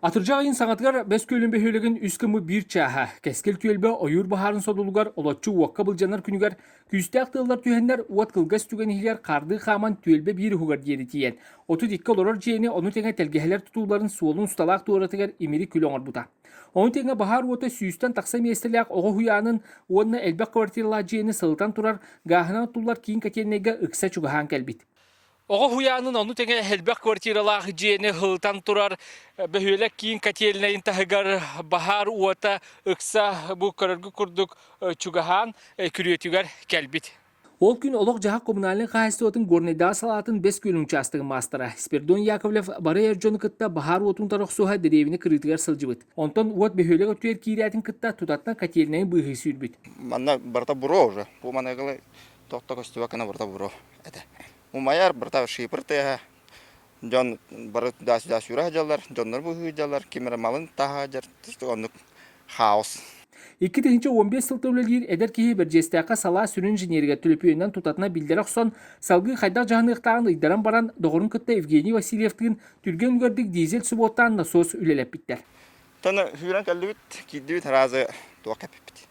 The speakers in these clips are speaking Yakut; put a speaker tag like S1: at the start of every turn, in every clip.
S1: Атырдьах ыйын саҥатыгар Бэс Күөлүн бөһүөлэгин үс кымы биир чааһа Кэскил түөлбэ ойуур баһаарын содулугар олоччу уокка былдьанар күнүгэр күүстээх тыаллар түһэннэр уот кылгас түгэн иһигэр хаардыы хааман түөлбэ биир уһугар диэри тиийэн, отут икки олорор дьиэни ону тэҥэ тэлгэһэлэр тутууларын суолун усталаах туоратыгар имири күл оҥорбута. Ону тэҥэ баһаар уота сүүстэн тахса миэстэлээх оҕо уһуйаанын уонна элбэх квартиралаах дьиэни сылытан турар гааһынан оттуллар киин котельнайга ыкса чугаһаан кэлбит. Оҕо уһуйаанын ону тэҥэ элбэх квартиралаах дьиэни ылытан турар бөһүөлэк киин котельнайын таһыгар баһаар уота ыкса бу көрөргө курдук чугаһаан күрүөтүгэр кэлбит. Ол күн олох-дьаһах коммунальнай хаһаайыстыбатын горнайдааҕы салаатын бэс күөлүн учаастагын маастара Спирдон Яковлев бары эр дьону кытта баһаар уотун тарахсуһа дэриэбинэ кырыытыгар сылдьыбыт. Онтон уот бөһүөлэк өттүгэр киирээтин кытта тутаттан котельнайын быыһыы сүүрбүт. Манна барыта
S2: буро уже. По тохто гостевак наборта буро это умайар братав шипр тыаха дьон бары даас даас үрэхэ дьаллар дьоннор быһыы дьаллар кимер малын таһа дьар оннук хаос Икки тыһынча
S1: он бес сылта үлэлиир эдэр киһи Бэрдьиэстээххэ салаа сүрүн инженеригэ түлүпүөнүнэн тутатына биллэр охсон салгыы хайдах дьаһаныахтааҕын ыйдаран баран доҕорун кытта Евгений Васильевтыын түргэн үлгэрдик дизель субуоттаан насос үлэлэппиттэр. Таны хүрэн
S2: кэллибит, киирдибит араазы туох кэппиппит.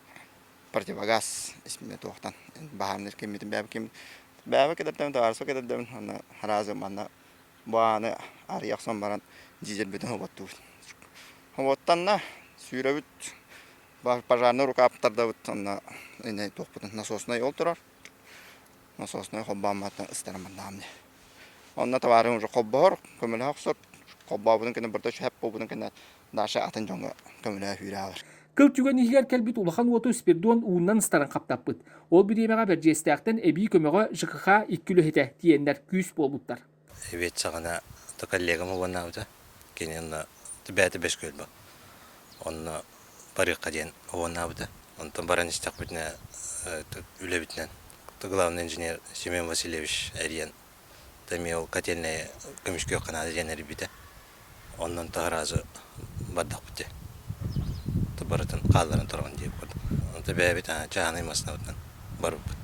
S2: противогаз исмина туохтан баһаамныыр киммитин бэйэбит ким бэйэбит кэтэрдэбин товарыспыт кэтэрдэбин онно араазы манна бу ааны арыйа охсон баран дизельбитин хоботтуубут хоботтанна сүүрэбит пожарнай рукаап тардабыт онно инэй туохпутун насоснай ол турар насоснай холбоон маттан ыстаран бардаам дии онно товарын уже холбоһор көмөлөһө охсор холбообутун кэннэ барда шэп буолбутун кэннэ Даша атын дьоҥҥо көмөлөһүүрэ аҕалар. Кыл түгэн иһигэр
S1: кэлбит улахан уоту Спирдон ууннан ыстаран хаптаппыт. Ол бириэмэҕэ Бэрдьиэстээхтэн эбии көмөҕө ЖКХ икки үлэһитэ тиийэннэр күүс буолбуттар. Эбиэт саҕана
S3: то коллегам убаннаабыта, кини онно бээтэ бэс көрбө. Онно барыахха диэн убаннаабыта. Онтон баран истэхпитинэ үлэбитинэн главный инженер Семен Васильевич эрийэн эмиэ ол котельнайы көмүскүөххэ наада диэн эрийбитэ оннун таһы разу бардахпыт дии барытын хаалларан туран диэбит курдук онто бэйэбит чааһынай массыынабытынан барбыппыт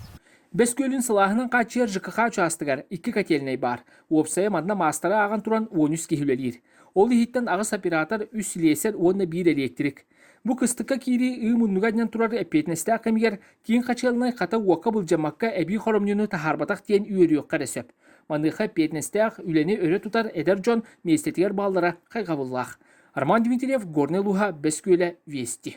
S3: Бөскүөлүн
S1: сылааһынан хааччыйар ЖКХ учаастагар икки котельнай баар. Уопсайа манна маастары ааҕан туран 13 киһи үлэлиир. Ол иһиттэн аҕыс оператор, үс слесарь уонна биир электрик. Бу кыстыкка киирии ыы муннуга анньан турар эппиэтинэстээх кэмигэр киин хачыалынай хата уокка былдьаммакка эбии хоромньуну таһаарбатах диэн үөрүөххэ эрэ сөп. Маныаха эппиэтинэстээх үлэни өрө тутар эдэр дьон миэстэтигэр бааллара хайҕабыллаах. Роман Дмитриев, Горнай Луһа, Бэскүөлэ, Вести.